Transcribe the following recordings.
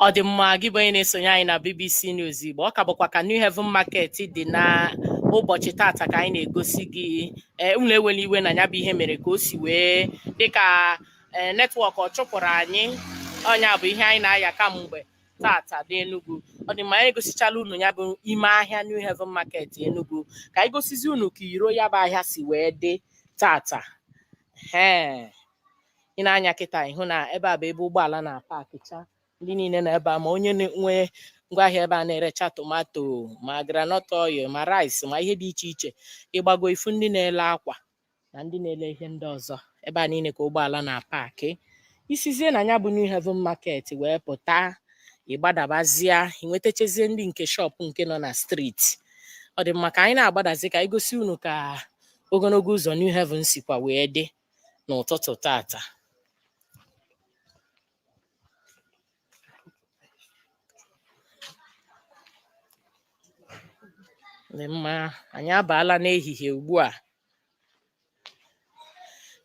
ọ dị mma gị bụ onye na-esonye anyị na BBC News Igbo ọ ka bụkwa ka New Haven Market dị na ụbọchị tata ka anyị na-egosi gị ee unu ewela iwe na ya bụ ihe mere ka o si wee dịka ee netwọk ọ chụpụrụ anyị ọ nya bụ ihe anyị na-aya kamgbe tata n'Enugu ọ dị mma anyị egosichala unu ya bụ ime ahịa New Haven Market Enugu ka anyị gosizi unu ka iro ya bụ ahịa si wee dị tata ee i nee anya kịta ị hụ na ebe a bụ ebe ụgbọala na-apakịcha ndị niile na ebe a ma onye na-enwe ngwaahịa ebe a na-erecha tomato ma groundnut oil ma rice ma ihe dị iche iche ị gbago i fu ndị na-ele akwa na ndị na-ele ihe ndị ọzọ ebe a niile ka ụgbọala na-apakị i sizie na ya bụ New Haven Market wee pụta ị gbadabazia i nwetachazie ndị nke shop nke nọ na streeti ọ dị mma ka anyị na-agbadazi ka anyị gosi unu ka ogologo ụzọ New Haven sikwa wee dị n'ụtụtụ tata dị mma anyị abaala n'ehihie ugbu a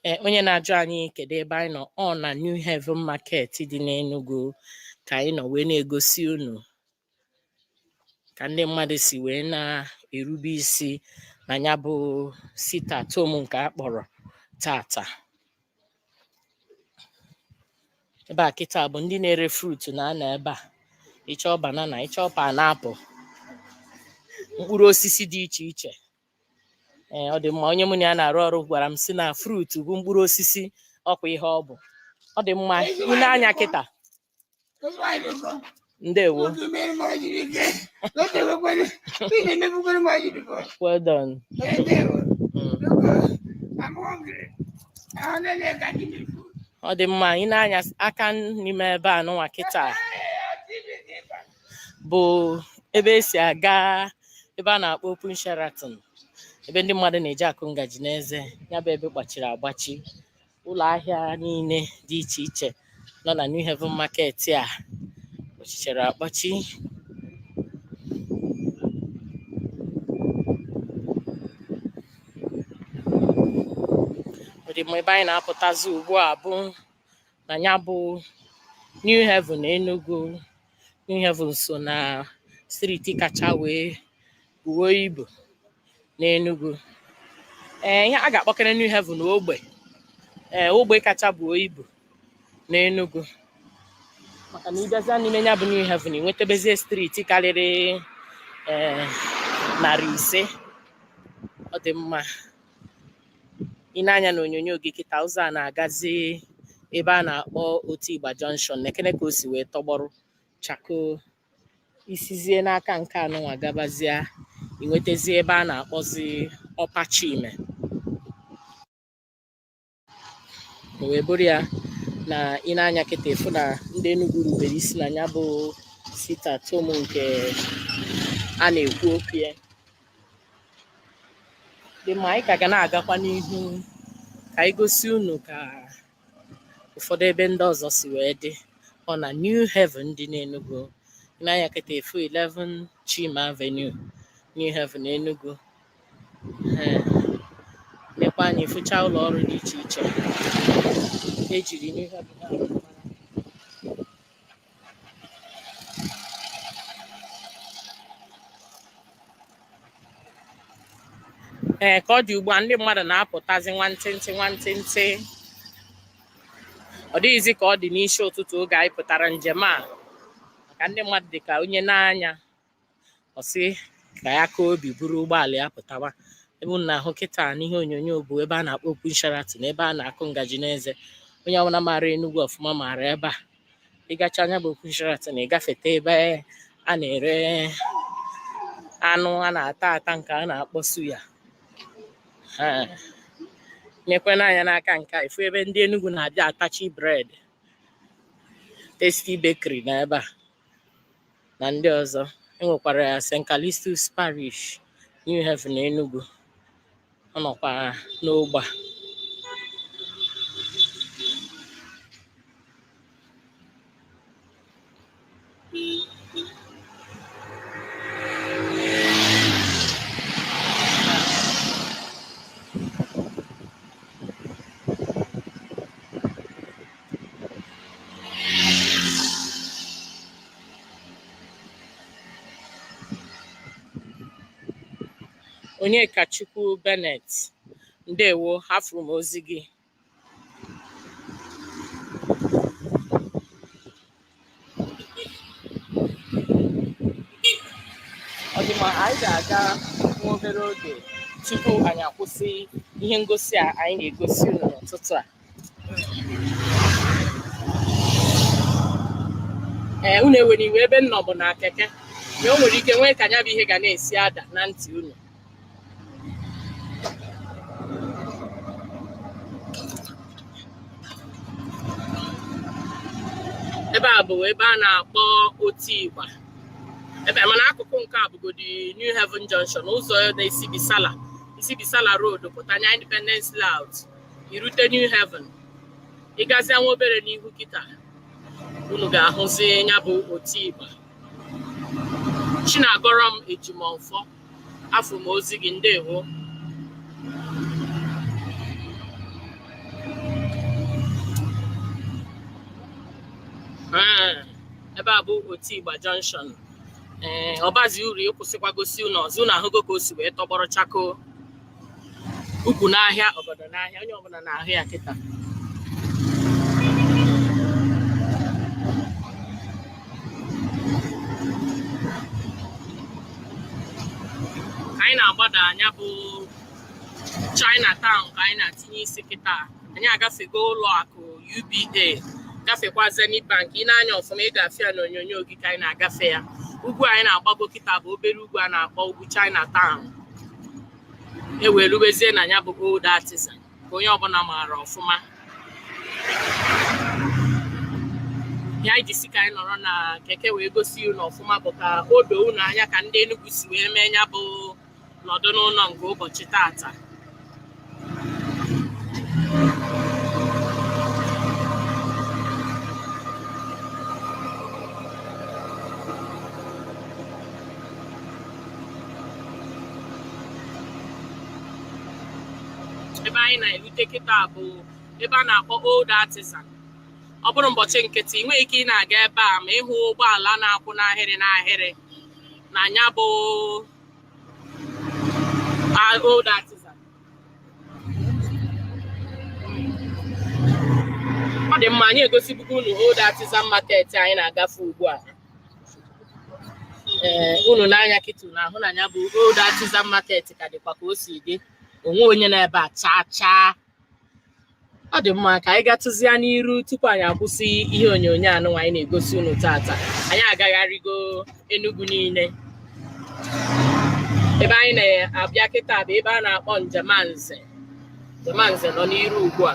ee onye na-ajụ anyị kedu ebe anyị nọ ọ na New Haven Market dị n'Enugu ka anyị nọ wee na-egosi unu ka ndị mmadụ si wee na-erube isi na ya bụ sit-at-home nke a kpọrọ tata ebe a kịta bụ ndị na-ere fruit na-anọ ebe a ị chọọ banana ị chọọ pineapple mkpụrụ osisi dị iche iche ee ọ dị mma onye mụ na ya na-arụ ọrụ gwara m sị na fruit bụ mkpụrụ osisi ọ kwa ihe ọ bụ ọ dị mma i lee anya kịta ndewo well done ọ dị mma i nee anya aka n'ime ebe a nụnwa kịta bụ ebe e si aga ebe a na-akpọ Open Sheraton ebe ndị mmadụ na-eji akụ ngaji n'eze ya bụ ebe gbachiri agbachi ụlọ ahịa niile dị iche iche nọ na New Haven Market a kpọchichara akpọchi ọ dị mma ebe anyị na-apụtazi ugbu a bụ na ya bụ New Haven Enugu New Haven so na streeti kacha wee buo ibu n'Enugu ee ihe a ga-akpọkere New Haven ogbe ee ogbe kacha buo ibu n'Enugu maka na ị bịazịa n'ime ya bụ New Haven ị nwetabezie street karịrị ee narị ise ọ dị mma i nee anya na onyonyo gị kịta ụzọ a na-agazi ebe a na-akpọ Otigba Junction nekene ka o si wee tọgbọrọ chakoo i sizie n'aka nke anụnwa gabazie ị nwetazie ebe a na-akpọzi Upper Chime o wee bụrụ ya na i nee anya kịta ị fụ na ndị Enugu rubere isi na ya bụ sit-at-home nke a na-ekwu okwu ya dị mma anyị ka ga na-agakwa n'ihu ka anyị gosi unu ka ụfọdụ ebe ndị ọzọ si wee dị ọ na New Haven dị n'Enugu i nee anya kịta ị fụ 11 Chime Avenue New Haven Enugu ee nekwa anya ị fụcha ụlọ ọrụ dị iche iche ejiri New Heaven ahụ ee ka ọ dị ugbu a ndị mmadụ na-apụtazi nwantịntị nwantịntị ọ dịghịzi ka ọ dị n'isi ụtụtụ oge anyị pụtara njem a maka ndị mmadụ dị ka onye nee anya ọ sị ka ya kaa obi buru ụgbọala ya pụtawa ebe unu na-ahụ kịta n'ihe onyonyo bụ ebe a na-akpọ Open Sheraton ebe a na-akụ ngaji n'eze onye ọbụla maara Enugu ọfụma maara ebe a ị gachaa nya bụ Open Sheraton ị gafeta ebe a na-ere anụ a na-ata ata nke a na-akpọ suya nekwene anya n'aka nke a ị fụ ebe ndị Enugu na-abịa atachi bread Tasty Bakery na ebe a na ndị ọzọ enwekwara St. Callistus Parish New Haven Enugu ọ nọkwa n'ogbe a. Onyekachukwu Bennett ndewo afụrụ m ozi gị ọ dị mma anyị ga-aga nwa obere oge tupu anyị akwụsị ihe ngosi a anyị na-egosi unu n'ụtụtụ a ee unu ewere iwe ebe m nọ bụ na keke na o nwere ike nwee ka nya bụ ihe ga na-esi ada na ntị unu ebe a bụ ebe a na-akpọ Otigba ebe mana akụkụ nke a bụgodi New Haven Junction ụzọ na-esi Bisala i si Bisala Road pụta nya Independence Layout i rute New Haven ị gazia nwa obere n'ihu kịta unu ga-ahụzi ya bụ Otigba Chinagọrọm Ejimọfọ afụ m ozi gị ndewo ee ebe a bụ Otigba Junction ee ọ bazi uru ịkwụsịkwa gosi unu ọzọ unu ahụgo ka o si wee tọgbọrọ chakoo ukwu n'ahịa ọgọdọ n'ahịa onye ọbụla na-ahụ ya kịta anyị na-agbada nya bụ China Town ka anyị na-atinye isi kịta anyị agafego ụlọ akụ UBA gafekwa Zenith Bank i nee anya ọfụma ị ga-afụ ya n'onyonyo gị ka anyị na-agafe ya ugwu anyị na-agbago kịta bụ obere ugwu a na-akpọ ugwu China Town e wee rubezie na ya bụ Old Artisan ka onye ọbụla maara ọfụma ihe anyị ji sị ka anyị nọrọ na keke wee gosi unu ọfụma bụ ka o doo unu anya ka ndị Enugu si wee mee ya bụ nọdụ n'ụlọ nke ụbọchị tata ebe anyị na-erute kịta bụ ebe a na-akpọ Old Artisan ọ bụrụ ụbọchị nkịtị i nweghị ike ị na-aga ebe a ma ị hụ ụgbọala na-akwụ n'ahịrị n'ahịrị na ya bụ Old Artisan ọ dị mma anyị egosibugo unu Old Artisan Market anyị na-agafe ugbu a ee eh, unu nee anya kịta unu ahụ na ya bụ Old Artisan Market ka dịkwa ka o si dị o nweghị onye nọ ebe a chaa chaa ọ dị mma ka anyị gatụzia n'iru tupu anyị akwụsị ihe onyonyo anụnwa anyị na-egosi unu tata anyị agagharịgo Enugu niile ebe anyị na-abịa kịta bụ ebe a na-akpọ Njemanze Njemanze nọ n'iru ugbu a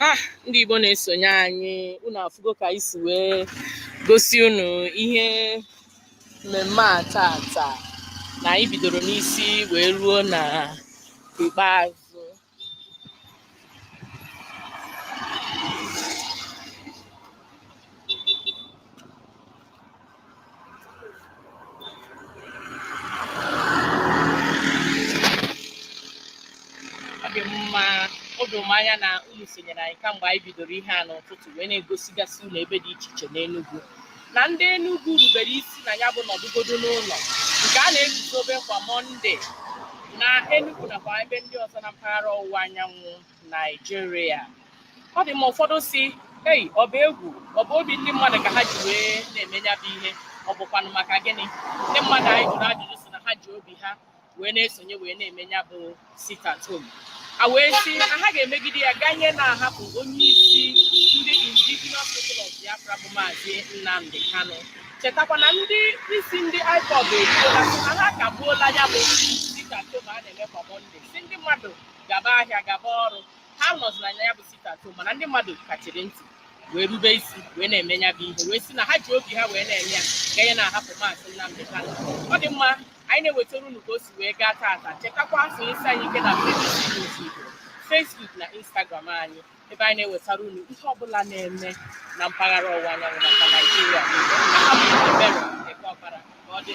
Ah, ndị Igbo na-esonye anyị unu afụgo ka anyị si wee gosi unu ihe mmemme a tata na anyị bidoro n'isi wee ruo na ikpeazụ ọ dị mma o doro m anya na unu sonyere anyị kamgbe anyị bidoro ihe a n'ụtụtụ wee na-egosigasị unu ebe dị iche iche n'Enugu na ndị Enugu rubere isi na ya bụ nọdụgodu n'ụlọ nke a na-eguzobe kwa Mọnde na Enugu nakwa ebe ndị ọzọ na mpaghara ọwụwa anyanwụ Naijiria ọ dị ma ụfọdụ sị ei ọ bụ egwu ọ bụ obi ndị mmadụ ka ha ji wee na-eme ya bụ ihe ọ bụkwanụ maka gịnị ndị mmadụ anyị jụrụ ajụjụ sị na ha ji obi ha wee na-esonye wee na-eme ya bụ sit at home a wee sị na ha ga-emegide ya ganye na a hapụ onye isi ndị Indigenous People of Biafra bụ maazị Nnamdi Kanu chetakwa na ndị isi ndị IPOB ekwuola na ha kagbuola ya bụ sit at home a na-eme kwa Mọnde sị ndị mmadụ gaba ahịa gaba ọrụ ha anọzila ya bụ sit at home mana ndị mmadụ kachiri ntị wee rube isi wee na-eme ya bụ ihe wee sị na ha ji obi ha wee na-eme ya ganye na a hapụ maazị Nnamdi Kanu ọ dị mma anyị na-ewetara unu ka o si wee gaa taata chetakwa sonyesi anyị ike na Facebook na Instagram anyị ebe anyị na-ewetara unu ihe ọbụla na-eme na mpaghara ọwụwa anyanwụ nakwa Naijiria aha m bụ Ebere Ekeọpara ka ọ dị